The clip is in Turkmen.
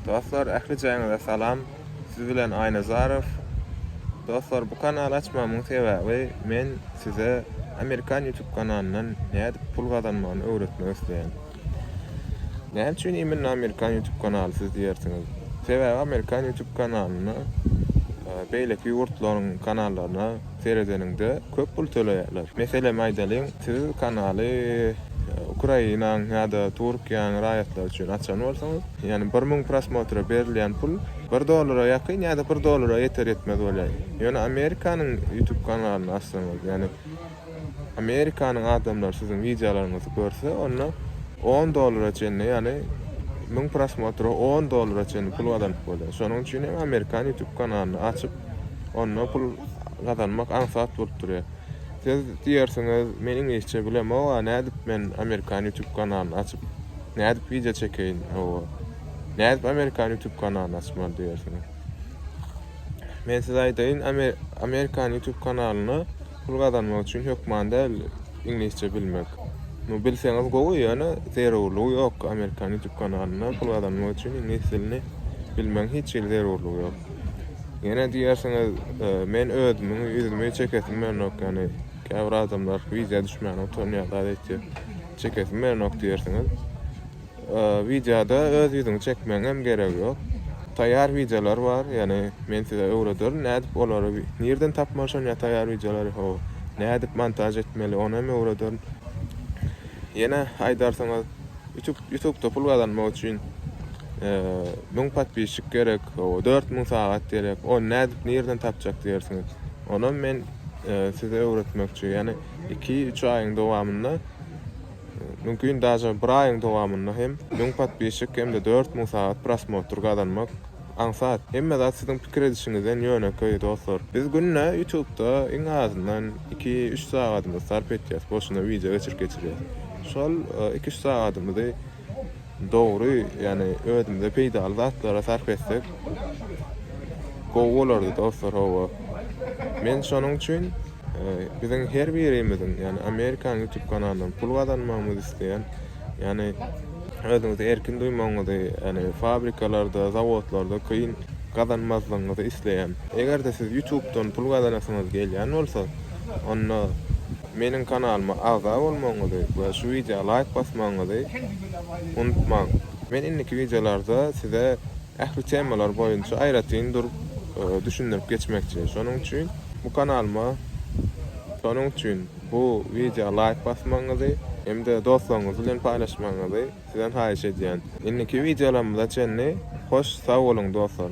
Dostlar ähli jaýyňyza salam siz bilen Aýnazarow Dostlar bu kanaly açmamyň sebäbi men size amerikan ýutub kanalyndan nädip pul gazanmagyny öwretmek isleýän. Näme üçin immenne amerikan ýutub kanaly siz diýersiňiz. Sebäbi amerikan ýutub kanalynda e, beýleki ýurtlaryň kanallaryna Seredeniňde köp pul töleýärler. Meselem aýdalyň, siz kanaly Ukrainaň ýa-da Türkiýäň raýatlary üçin açan bolsaňyz, ýagny bir müň prosmotra berilýän pul bir dollara ýakyn ýa-da bir dollara ýeter-ýetmez bolýar. Ýöne Amerikanyň YouTube kanalyny açsaňyz, ýagny Amerikanyň adamlary siziň wideolaryňyzy görse, onda on dollara çenli, ýagny müň prosmotra on dollara çenli pul gazanyp bolýar. Şonuň üçin hem Amerikan YouTube kanalyny açyp, Onda pul gazanmak aňsat bolup durýar. Siz diýersiňiz, men iňlisçe bilemog-a, nädip men amerikan ýutub kanalyny açyp, nädip wideo çekeýin, hawa, nädip amerikan ýutub kanalyny açmaly diýersiňiz. Men size aýdaýyn, amerikan ýutub kanalyny Pul gazanmak üçin hökman däl iňlisçe bilmek. Nu bilseňiz gowy ýöne zerurlygy ýok amerikan youtube kanalynda pul gazanmak üçin iňlis dilini bilmegiň hiç hili zerurlygy ýok. Ýene diýersiňiz e, men özümiň ýüzümi çekesim gelenok ýani käbir adamlar wideýa düşmäne utanýar zat etýär. Çekesim gelenok diýersiňiz. Wideoda öz ýüzüňi çekmegiňem geregi ýok. Taýýar wideolar bar, ýagny men size öwrederin nädip olary nirden tapmaly şon ýa taýýar wideolary ho nädip montaž etmeli onam öwrederin. Ýene aýdarsyňyz ýutub ýutubda pul gazanmak üçin müň podpisçik gerek ho dört müň sagat gerek ony nädip nirden tapjak diýersiňiz onam men size öwretmekçi ýagny iki üç aýyň dowamynda Mümkin daže bir aýyň dowamynda hem müň podpisçik hem-de dört müň sagat prosmotr gazanmak aňsat. Hemme zat siziň pikir edişiňizden ýönekeý dostlar. Biz günde ýutubda iň azyndan iki, üç sagadymyzy sarp etýäs, boşuna wideo geçirip geçirýäs. Şol iki, üç sagadymyzy Dogry, ýani özümize peýdaly zatlara sarp etsek gowy bolardy dostlar hawa. Men şonuň üçin biziň her birimiziň ýani Amerikanyň ýutub kanalyndan pul gazanmagymyzy isleýän ýani özüňizi erkin duýmagyňyzy ýani fabrikalarda zawodlarda kyn gazanmazlygyňyzy isleýän. Egerde siz ýutubdan pul gazanasyňyz gelýän bolsa onda Meniň kanalyma agza bolmagyňyzy we şu wideoa laýk basmagyňyzy unutmaň. Men indiki wideolarda size ähli temalar boýunça aýratyn durup düşündirip geçmekçi. Şonuň üçin bu kanalyma şonuň üçin bu wideoa laýk basmagyňyzy hem-de dostlaryňyz bilen paýlaşmagyňyzy sizden haýyş edýän. Indiki wideolarymyza çenli hoş sag boluň dostlar.